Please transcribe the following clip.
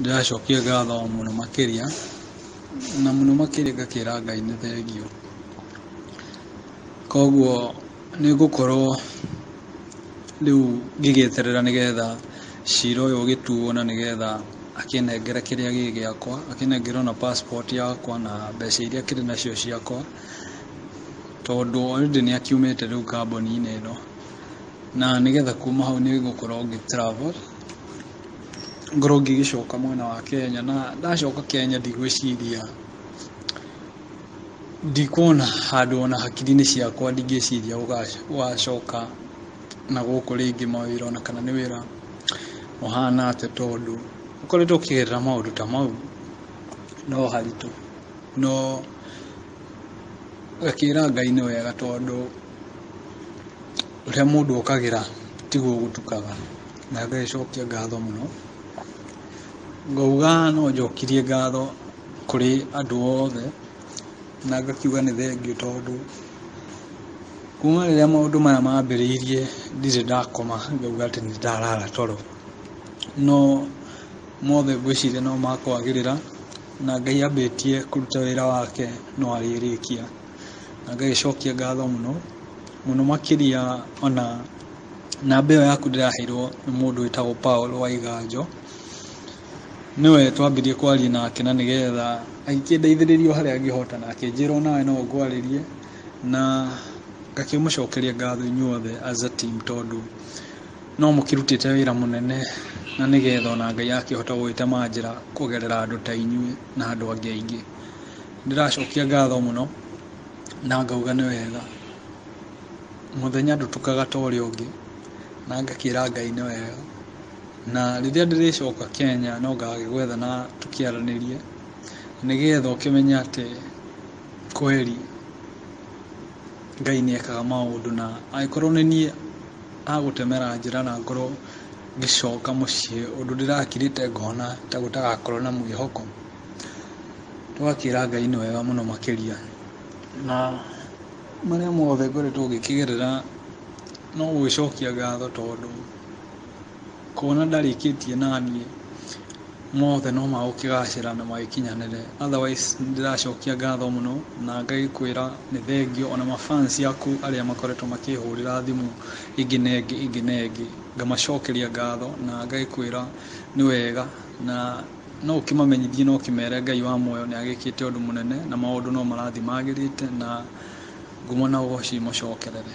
ndĩracokia ngatho mũno makĩria na mũno makĩria ngakĩra ngai nĩ thengiũ koguo nĩ ngũkorwo rĩu ngĩgĩeterera nĩgetha cira ũyũ ũgĩtuo na nĩgetha akĩnengere kĩrĩa gĩ gĩakwa akĩnengere ona passport yakwa na mbeca iria akĩrĩ nacio ciakwa tondũ already nĩ akiumĩte rĩu kambuni-inĩ ĩno. na nĩgetha kuma hau nĩ gũkorwo ngĩ travel ngorwo ngĩgĩcoka mwena wa Kenya na ndacoka Kenya ndigwĩciria ndikuona handũ ona hakiri-inĩ ciakwa ndingĩciria gũgacoka na gũkũ rĩngĩ mawĩra ona kana nĩ wĩra ũhana atĩa tondũ ũkoretwo ũkĩgerera maũndũ ta mau no haritũ no ngakĩra Ngai nĩ wega tondũ Ũrĩa mũndũ okagĩra tiguo gũtukaga. Na ngacokia ngatho mũno. Ngauga no njokirie ngatho kũrĩ andũ othe, na ngakiuga nĩ thengiũ tondũ kuma rĩrĩa maũndũ maya mambĩrĩirie ndirĩ ndakoma ngauga atĩ nĩ ndarara toro. No mothe ngwĩciria no ma kwagĩrĩra, na Ngai ambĩtie kũruta wĩra wake no arĩrĩkia. ngagĩcokia ngatho mũno, mũno makĩria ona namba ĩyo yaku ndĩraheirwo nĩ mũndũ wĩtagwo Paul Waiganjo, nĩwe twambirie kwaria nake na nĩgetha agĩkĩndeithĩrĩria harĩa angĩhota na akĩnjĩra onawe no ngwarĩrie na ngakĩmũcokeria ngatho inyuothe as a team tondũ no mũkĩrutĩte wĩra mũnene na nĩgetha ona Ngai akĩhote gũgĩtemanjĩra kũgerera andũ ta inyuĩ na andũ angĩ aingĩ. Ndĩracokia ngatho mũno na ngauga nĩ wega. Mũthenya ndũtukaga ta ũrĩa ũngĩ na ngakĩra Ngai nĩ wega. Na rĩrĩa ndĩrĩcoka Kenya no ngagĩgwetha na tũkĩaranĩrie nĩgetha ũkĩmenye atĩ kweri Ngai nĩ ekaga maũndũ. Na angĩkorwo nĩ niĩ agũtemera njĩra na ngorwo ngĩcoka mũciĩ ũndũ ndĩrakirĩte ngona ta gũtagakorwo na mwĩhoko. Twakĩra Ngai nĩ wega mũno makĩria, na marĩa mothe ngoretwo ngĩkĩgerera no gũgĩcokia ngatho tondũ kuona ndarĩkĩtie naniĩ mothe no magũkĩgacĩra na magĩkinyanĩre otherwise nĩ ndĩracokia ngatho mũno na ngagĩkwĩra nĩ thengiũ ona ma fans aku arĩa makoretwo makĩhũrĩra thimũ ĩngĩ na ĩngĩ ĩngĩ na ĩngĩ ngamacokeria ngatho na ngagĩkwĩra nĩ wega na... No ũkĩmamenyithie na ũkĩmere Ngai wa muoyo nĩ agĩkĩte ũndũ mũnene na maũndũ no marathiĩ magĩrĩte na ngumo na ũgoci imũcokerere.